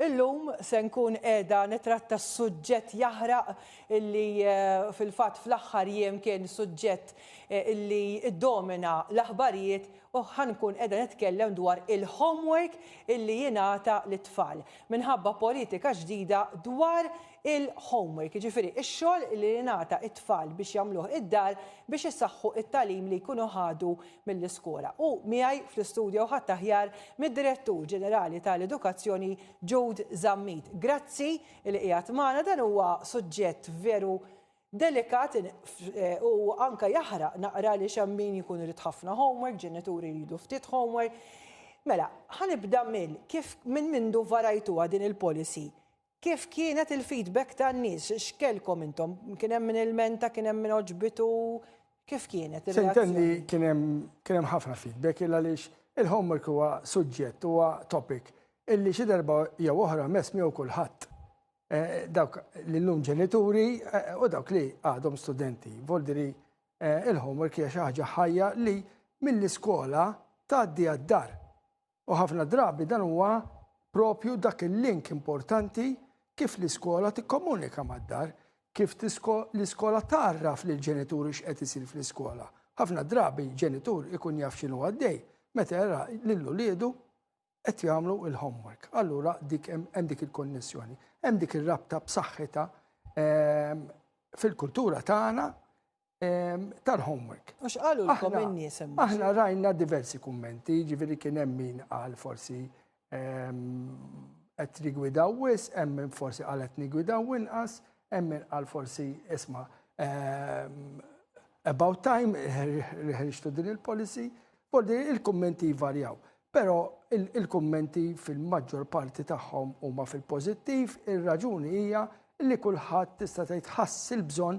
Illum se nkun qiegħda nitratta suġġett jaħraq illi fil-fatt fl-aħħar jiem kien suġġett illi ddomina l-aħbarijiet u ħa nkun qiegħda nitkellem dwar il-homework illi jingħata lit-tfal. Minħabba politika ġdida dwar il-homework, jiġifieri x-xogħol li jingħata t-tfal biex jagħmluh id-dar biex isaħħu t-tagħlim li jkunu ħadu mill-iskola u miegħi fl-istudjo ħadd aħjar mid-Direttur Ġenerali tal-Edukazzjoni Jude Zammit. Grazzi li qiegħed magħna dan huwa suġġett veru delikat eh, u anka jaħraq naqra li hemm min jkun irid ħafna homework, ġenituri jridu ftit homework. Mela, ħanibda mill kif minn mindu varajtuha din il-policy Kif kienet il-feedback tan-nies? X'kellkom intom? Kien hemm min ilmenta, kien hemm min għoġbitu? Kif kienet ir-reazzjoni? Se kien hemm ħafna feedback il għaliex il-homework huwa suġġett, huwa topic illi xi darba jew oħra mess miegħu kulħadd. Dawk li llum ġenituri u dawk li għadhom studenti. Voldiri il-homework hija xi ħaġa ħajja li mill-iskola tgħaddi għad-dar. U ħafna drabi dan huwa propju dak il-link importanti kif l-iskola tikkomunika mad-dar, kif l-iskola tgħarraf lill-ġenituri x'qed isir fl-iskola. Ħafna drabi ġenitur ikun jaf x'inhu għaddej meta jara lil uliedu qed jagħmlu l-homework. Allura dik hemm dik il-konnessjoni, hemm dik ir-rabta b'saħħitha ehm, fil-kultura tagħna tal-homework. Għax qalu l-kom in-nies hemm. Aħna rajna diversi kummenti, ġifieri kien hemm min qal forsi qed rigwidaw wis, hemm min forsi qal qed nigwidaw inqas, hemm min qal forsi isma' about time ħriġtu din il-policy, forsi il-kummenti jvarjaw. Però il-kummenti fil-maġġor parti tagħhom huma fil-pożittiv, ir-raġuni hija li kulħadd tista' tgħid ħass il-bżonn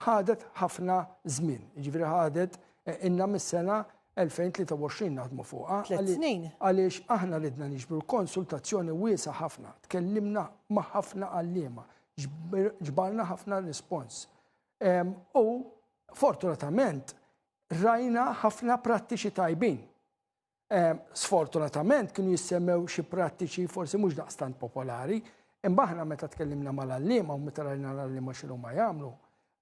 Ħadet ħafna żmien, jiġifieri ħadet inna mis-sena 2023 naħdmu fuqha. Tliet snin. Għaliex aħna ridna niġbru konsultazzjoni wiesgħa ħafna, tkellimna ma' ħafna għalliema, ġbarna ħafna rispons. U fortunatament rajna ħafna prattiċi tajbin. Eh, sfortunatament kienu jissemmew xi prattiċi forsi mhux daqstant popolari, imma aħna meta tkellimna mal-allima u meta rajna l-allima xinu ma jagħmlu,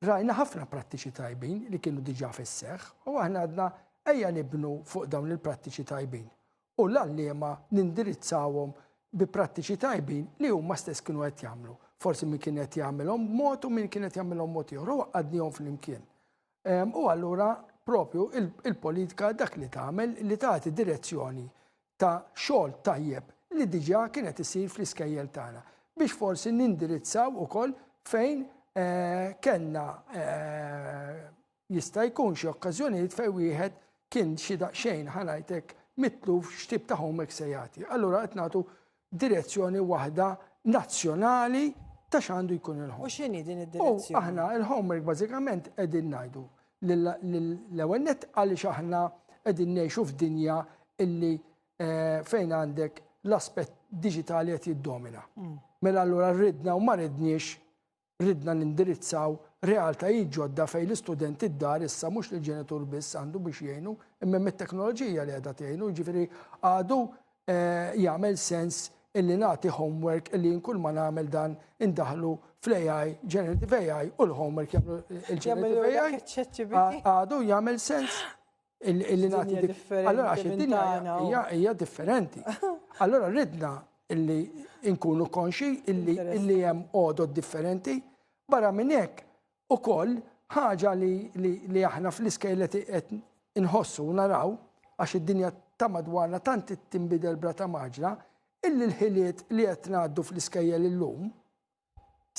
rajna ħafna prattiċi tajbin li kienu diġà fis-seħħ u aħna għadna ejja nibnu fuq dawn il-prattiċi tajbin. U l-allima nindirizzawhom bi prattiċi tajbin li huma stess kienu qed jagħmlu. Forsi min kien qed jagħmilhom mod u min kien qed jagħmilhom mod ieħor u għadnihom flimkien. U allura propju il-politika dak li tagħmel li tagħti direzzjoni ta' xogħol tajjeb li diġà kienet isir fl-iskejjel tagħna biex forsi nindirizzaw ukoll fejn eh, kellna eh, jista' jkun xi okkażjonijiet fejn wieħed kien xi daqsxejn ħanajtek mitluf x'tip ta' homework se jagħti. Allura qed nagħtu direzzjoni waħda nazzjonali ta' x'għandu jkun il-ħom. U x'inhi din id-direzzjoni? Aħna il-homework bażikament qegħdin ngħidu l-ewwel net għaliex aħna qegħdin ngħixu f'dinja illi eh, fejn għandek l-aspett diġitali qed jiddomina. Mm. Mela allura rridna u ma ridniex Ridna nindirizzaw realtajiet ġodda fejn l-istudenti d-dar issa mhux l-ġenitur biss għandu biex jgħinu, imma hemm it-teknoloġija li qiegħda tgħinu, jiġifieri għadu jagħmel sens illi nagħti homework illi jien kull ma nagħmel dan indaħlu fl-AI, generative AI u l-homework jagħmlu l-generative AI. Għadu jagħmel sens. Illi nagħti differenti. Allora għax id-dinja hija differenti. Allora ridna illi nkunu konxi illi illi hemm għodod differenti barra minn hekk ukoll ħaġa li, li, li aħna fl-iskejl qed inħossu naraw għax id-dinja ta' madwarna tant tinbidel brata maġla illi l-ħiliet li qed ngħaddu fl-iskejjel illum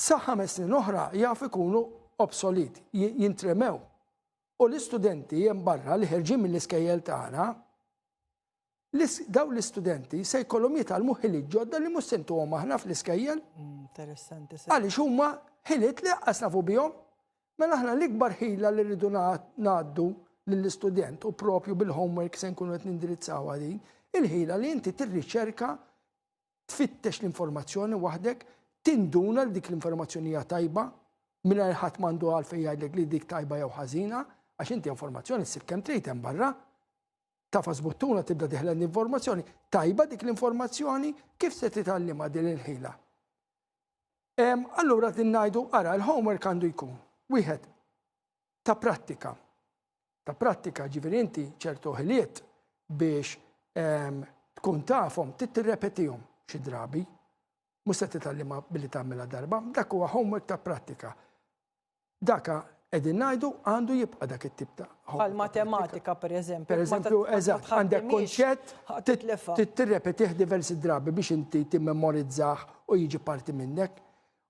sa ħames snin oħra jaf ikunu obsolit, jintremew. U l-istudenti hemm barra li ħerġin mill-iskejjel tagħna, daw l-istudenti se jkollhom jitgħallmu ħiliet ġodda li mhux se ntuhom aħna fl-iskejjel. Mm, interessanti. Għaliex huma ħiliet li qqas nafu bihom. Mela aħna l-ikbar ħila li rridu ngħaddu lill-istudent u propju bil-homework se nkunu qed nindirizzaw din, il-ħila li inti tirriċerka tfittex l-informazzjoni waħdek, tinduna li dik l-informazzjoni hija tajba, mingħajr ħadd m'għandu għalfejn jgħidlek li dik tajba jew ħażina, għax inti informazzjoni ssib kemm trid hemm barra. Tafas buttuna tibda diħla l-informazzjoni, tajba dik l-informazzjoni kif se titgħallimha din il-ħila. Allura din ngħidu ara l-homework għandu jkun wieħed ta' prattika. Ta' prattika ġifieri inti ċertu ħiliet biex ehm, tkun tafhom trid tirrepetihom xi drabi. Mhux se titgħallimha billi tagħmilha darba, dak huwa homework ta' prattika. Daka qegħdin ngħidu għandu jibqa' dak it-tip ta' Għal matematika pereżempju. Pereżempju, eżatt, għandek kunċett trid tirrepetih diversi drabi biex inti timmemorizzah u jiġi parti minnek.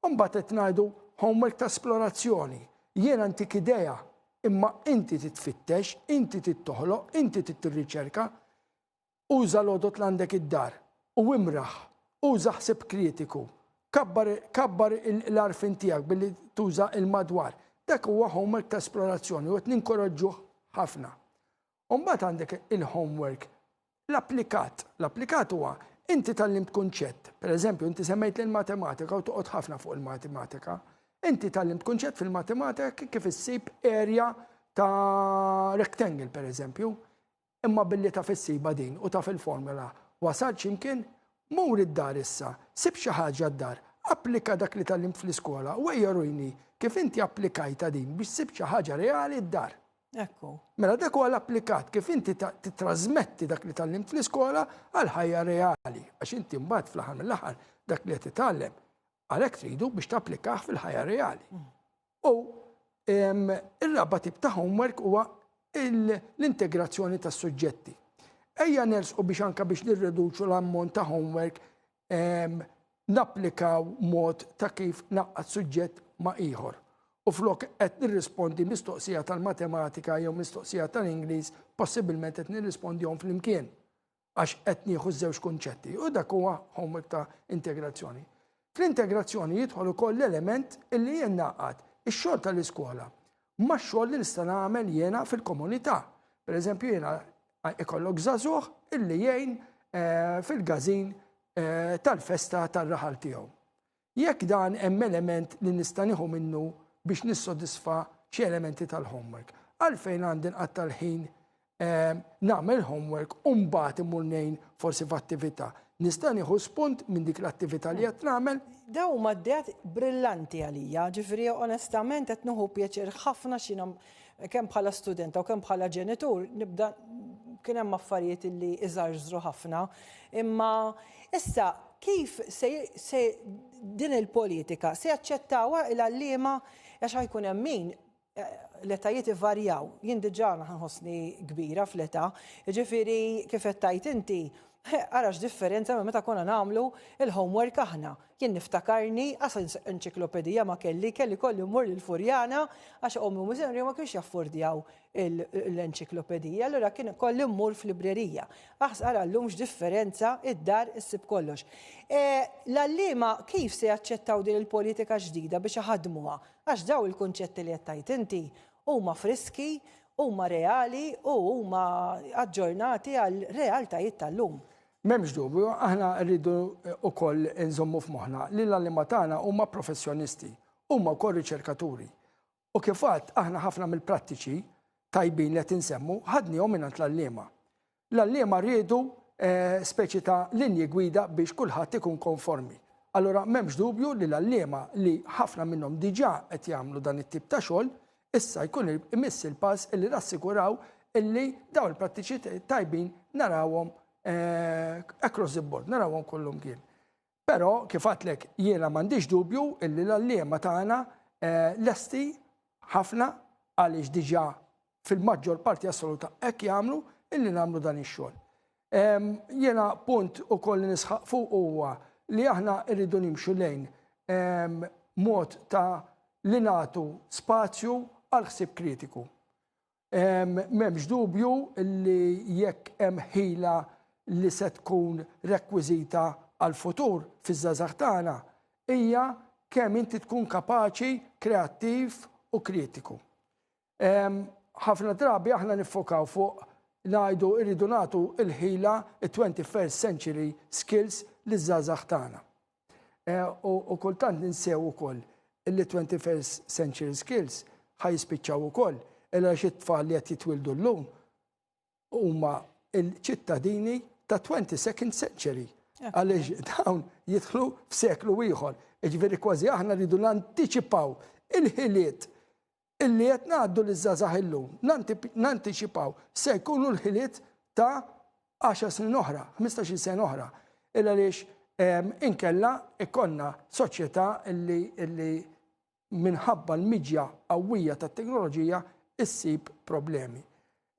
Imbagħad qed ngħidu homework ta' splorazzjoni. Jien antik idea, imma inti trid tfittex, inti trid toħloq, inti trid tirriċerka. Uża l-għodod l-għandek id-dar u imraħ. Uża ħsieb kritiku. Kabbar kabbar l-għarfien tiegħek billi tuża il-madwar. Dak huwa homework ta' splorazzjoni u qed ninkoraġġuh ħafna. U mbagħad għandek il-homework. L-applikat. L-applikat huwa inti tallimt kunċett. Per eżempju, inti semmejt li l-matematika u toqgħod ħafna fuq il-matematika. Inti tallimt kunċett fil-matematika kif issib erja ta' rectangle, per eżempju. Imma billi ta' fissiba din u ta' fil-formula wasal ximkien, mur id-dar issa, sib xi ħaġa d-dar, applika dak li tallimt fl-iskola u ejja rujni kif inti applikajta din biex sib xi ħaġa reali d-dar. Ekku. Mela dak huwa l-applikat kif inti titrasmetti dak li tallimt fl-iskola għal ħajja reali, għax inti mbagħad fl-aħħar mill-aħħar dak li qed titgħallem għalhekk tridu biex tapplikah fil-ħajja reali. Mm. U ir-raba tip ta' homework huwa l-integrazzjoni tas-suġġetti. Ejja nersqu biex anka biex nirreduċu l-ammont ta' homework napplikaw mod ta' kif naqqad suġġett ma' ieħor. U flok qed nirrispondi mistoqsija tal-matematika jew mistoqsija tal-Ingliż, possibilment qed nirrispondihom flimkien għax qed nieħu żewġ kunċetti. U dak huwa homework ta' integrazzjoni. Fl-integrazzjoni jidħol ukoll l-element illi jien naqgħad ix-xogħol tal-iskola max-xogħol li nista' nagħmel jiena fil-komunità. Pereżempju jiena ikollok żagħżugħ illi jgħin eh, fil-gażin eh, tal-festa tar-raħal tiegħu. Jekk dan hemm element li nista' nieħu minnu biex nissodisfa xi elementi tal-homework, għalfejn għandi nqatta' l-ħin nagħmel homework u mbagħad imur ngħin forsi f'attività. Nista' nieħu spunt minn dik l-attività li qed nagħmel. Daw huma d-dejat brillanti għalija, ġifieri onestament qed nieħu pjaċir ħafna x'ina kemm bħala studenta u kemm bħala ġenitur nibda kien hemm affarijiet li iżarżru ħafna. Imma issa kif se din il-politika se jaċċettawha il-għalliema għax ħajkun hemm min l-etajiet ivarjaw. Jien diġà nħossni kbira fl-età, jiġifieri kif qed tgħid inti, ara x'differenza minn meta konna nagħmlu l-homework aħna. Jien niftakarni, qas enċiklopedija ma kelli, kelli kolli mmur lil Furjana għax ommi u miżenri ma kienx jaffordjaw l-enċiklopedija, allura kien kolli mmur f'librerija. Aħs ara llum x'differenza id-dar issib kollox. L-għalliema kif se jaċċettaw din il-politika ġdida biex iħaddmuha? Għax dawn il-kunċetti li qed tgħid inti huma friski, huma reali u huma aġġornati għar-realtajiet tal-lum. M'hemmx dubju, aħna rridu wkoll inżommu f'moħħna li l-għalliema tagħna huma professjonisti, huma wkoll riċerkaturi. U kif għadt, aħna ħafna mill-prattiċi tajbin li qed insemmu ħadniehom mingħand l-għalliema. L-għalliema riedu speċi ta' linji gwida biex kulħadd ikun konformi. Allura m'hemmx dubju li l-għalliema li ħafna minnhom diġà qed jagħmlu dan it-tip ta' xogħol, issa jkun imiss il-pass illi nassiguraw illi dawn il-prattiċi tajbin narawhom across the board, narawhom kollha mkien. Però, kif għadtlek, jiena m'għandix dubju illi l-għalliema tagħna lesti ħafna għaliex diġà fil-maġġor parti assoluta hekk jagħmlu illi nagħmlu dan ix-xogħol. Jiena punt ukoll li nisħaq fuq huwa li aħna rridu nimxu lejn mod ta' li nagħtu spazju għal ħsieb kritiku. M'hemmx dubju li jekk hemm ħila li se tkun rekwiżita għall-futur fiż-żgħażagħ tagħna hija kemm inti tkun kapaċi, kreattiv u kritiku. Ħafna drabi aħna niffokaw fuq ngħidu rridu nagħtu l-ħila, it-twenty first century skills, liż-żgħażagħ tagħna. Eh, u kultant ninsew ukoll illi 21st century skills ħaj jispiċċaw ukoll illa xi tfal li qed jitwildu llum huma il-ċittadini ta' 22nd century. Għaliex dawn jidħlu f'seklu ieħor. Iġveri kważi aħna rridu nanticipaw il-ħiliet illi qed ngħaddu liż-żgħażagħ illum, nantiċipaw, se jkunu l-ħiliet ta' 10 snin oħra, 15-il sena oħra. Il għaliex ehm, inkella ikonna soċjetà illi minħabba l-miġja qawwija tat-teknoloġija issib problemi.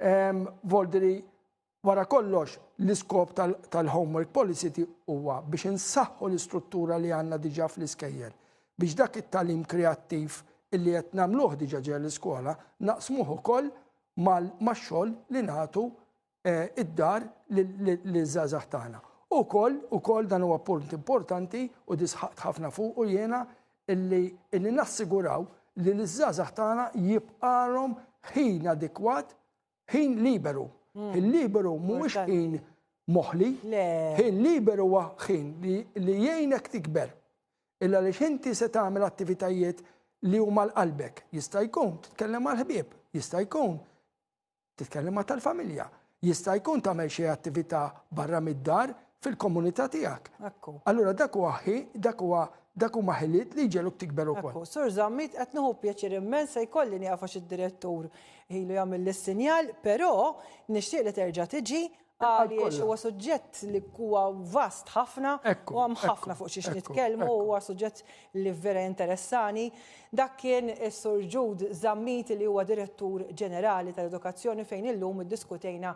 Ehm, Voldri Wara kollox, l-iskop tal-Homework Policy huwa biex insaħħu l-istruttura li għandna diġà fl-iskejjel, biex dak it-tagħlim kreattiv illi qed nagħmluh diġà ġewwa l-iskola naqsmuh ukoll max-xogħol li nagħtu d-dar liż-żgħażagħ tagħna. U wkoll, ukoll dan huwa punt importanti u di sħaqt ħafna fuqu jiena, illi illi nassiguraw li liż-żgħażagħ tagħna jibqagħlhom ħin adekwat ħin liberu. Hmm. Ħin liberu mhuwiex ħin moħli. Ħin liberu huwa ħin li jgħinek tikber. Illa li xinti se tagħmel attivitajiet li huma l-qalbek. Jista' jkun titkellem mal-ħbieb, jista' jkun titkellem ma' tal-familja, jista' jkun tagħmel xi attività barra mid-dar fil-komunità tiegħek. Ekku. Allura dak huwa ħi, dak huwa dak huma ħiliet li jġegħluk tikber ukoll. Ekku, Sur Zammit qed nieħu pjaċir immens se jkolli nieqaf għax id-Direttur ilu jagħmilli s-sinjal, però nixtieq li terġa' tiġi għaliex huwa suġġett li huwa vast ħafna u hemm ħafna fuq xiex nitkellmu huwa suġġett li vera interessani. Dak kien is-Sur Ġud Zammit li huwa Direttur Ġenerali tal-Edukazzjoni fejn illum iddiskutejna